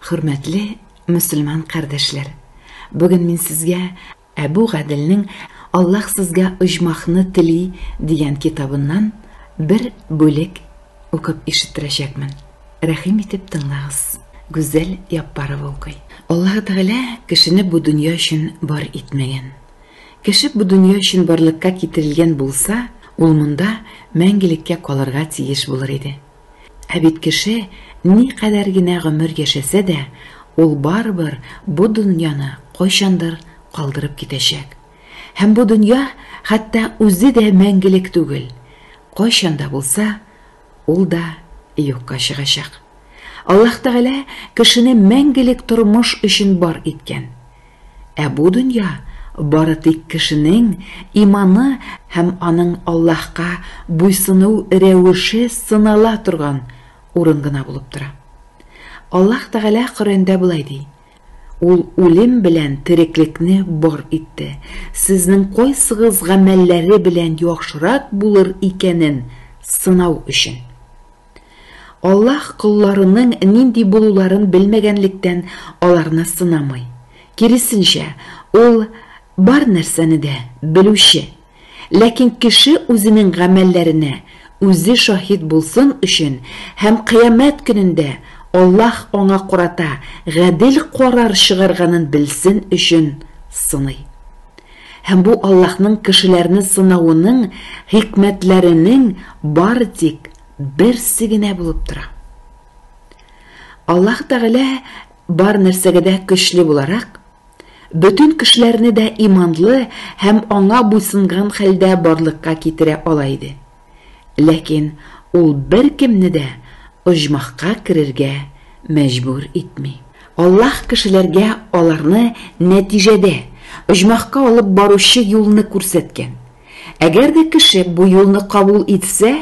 Хөрмәтле мөселман кардәшләр! Бүген мин сезгә Әбү Гаделнең Аллаһ сезгә оҗмахны тели дигән китабыннан бер бүлек укып ишеттерәчәкмен. Рәхим итеп тыңлагыз. Гүзәл Яппарова укый. Аллаһы Тәгалә кешене бу дөнья өчен бар итмәгән. Кеше бу дөнья өчен барлыкка китерелгән булса, ул монда мәңгелеккә калырга тиеш булыр иде. Ә бит кеше никадәр генә гомер яшәсә дә, ул барыбер бу дөньяны кайчандыр калдырып китәчәк. Һәм бу дөнья хәтта үзе дә мәңгелек түгел, кайчан да булса, ул да юкка чыгачак. Аллаһ Тәгалә кешене мәңгелек тормыш өчен бар иткән. Ә бу дөнья бары тик кешенең иманы һәм аның Аллаһка буйсыну рәвеше сынала торган урын гына булып тора. Аллаһ Тәгалә Коръәндә болай ди, Ул үлем белән тереклекне бар итте, сезнең кайсыгыз гамәлләре белән яхшырак булыр икәнен сынау өчен. Аллаһ колларының нинди булуларын белмәгәнлектән аларны сынамый. Киресенчә, Ул бар нәрсәне дә Белүче. Ләкин кеше үзенең гамәлләренә үзе шаһит булсын өчен һәм Кыямәт көнендә Аллаһ аңа карата гадел карар чыгарганын белсен өчен сыный. Һәм бу Аллаһның кешеләрне сынавының хикмәтләренең бары тик берсе генә булып тора. Аллаһ Тәгалә бар нәрсәгә дә көчле буларак, бөтен кешеләрне дә иманлы һәм аңа буйсынган хәлдә барлыкка китерә ала иде. Ләкин ул беркемне дә оҗмахка керергә мәҗбүр итми. Аллаһ кешеләргә аларны нәтиҗәдә оҗмахка алып баручы юлны күрсәткән. Әгәр дә кеше бу юлны кабул итсә,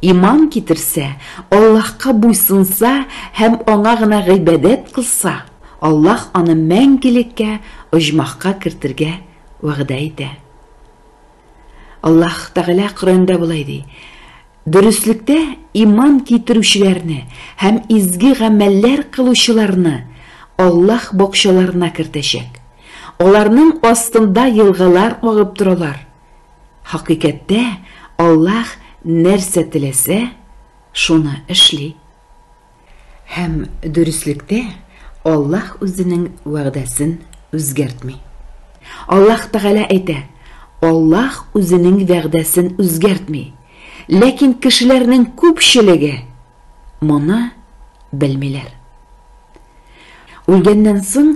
иман китерсә, Аллаһка буйсынса һәм Аңа гына гыйбадәт кылса, Аллаһ аны мәңгелеккә оҗмахка кертергә вәгъдә итә. Аллаһ Тәгалә Коръәндә болай ди, Дөреслектә иман китерүчеләрне һәм изге гамәлләр кылучыларны Аллаһ бакчаларына кертәчәк. Аларның астында елгалар агып торалар. Хакыйкәттә, Аллаһ нәрсә теләсә, шуны эшли. Һәм, дөреслектә, Аллаһ Үзенең вәгъдәсен үзгәртми. Аллаһ Тәгалә әйтә, Аллаһ Үзенең вәгъдәсен үзгәртми. Ләкин кешеләрнең күпчелеге моны белмиләр. Үлгәннән соң,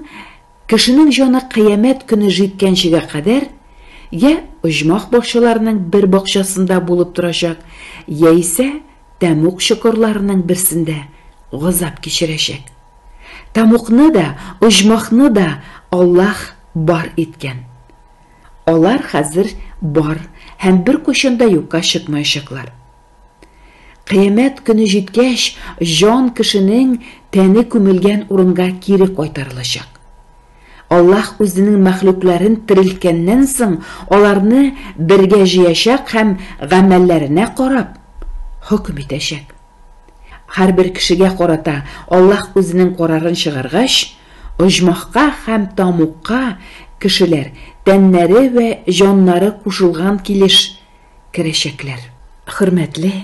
кешенең җаны кыямәт көне җиткәнчегә кадәр я оҗмах бакчаларының бер бакчасында булып торачак, яисә Тәмуг чокырларының берсендә газап кичерәчәк. Тамукны да, оҗмахны да Аллаһ бар иткән. Алар хәзер бар һәм беркайчан да юкка чыкмаячаклар. Кыямәт көне җиткәч, җан кешенең тәне күмелгән урынга кире кайтарылачак. Аллаһ Үзенең мәхлукларын терелткәннән соң, аларны бергә җыячак һәм гамәлләренә карап, хөкем итәчәк. Һәрбер кешегә карата Аллаһ Үзенең карарын чыгаргач, оҗмахка һәм тамукка кешеләр, тәннәре вә җаннары кушылган килеш, керәчәкләр. Хөрмәтле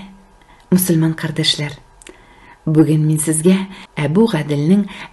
мөселман кардәшләр! Бүген мин сезгә Әбү Гаделнең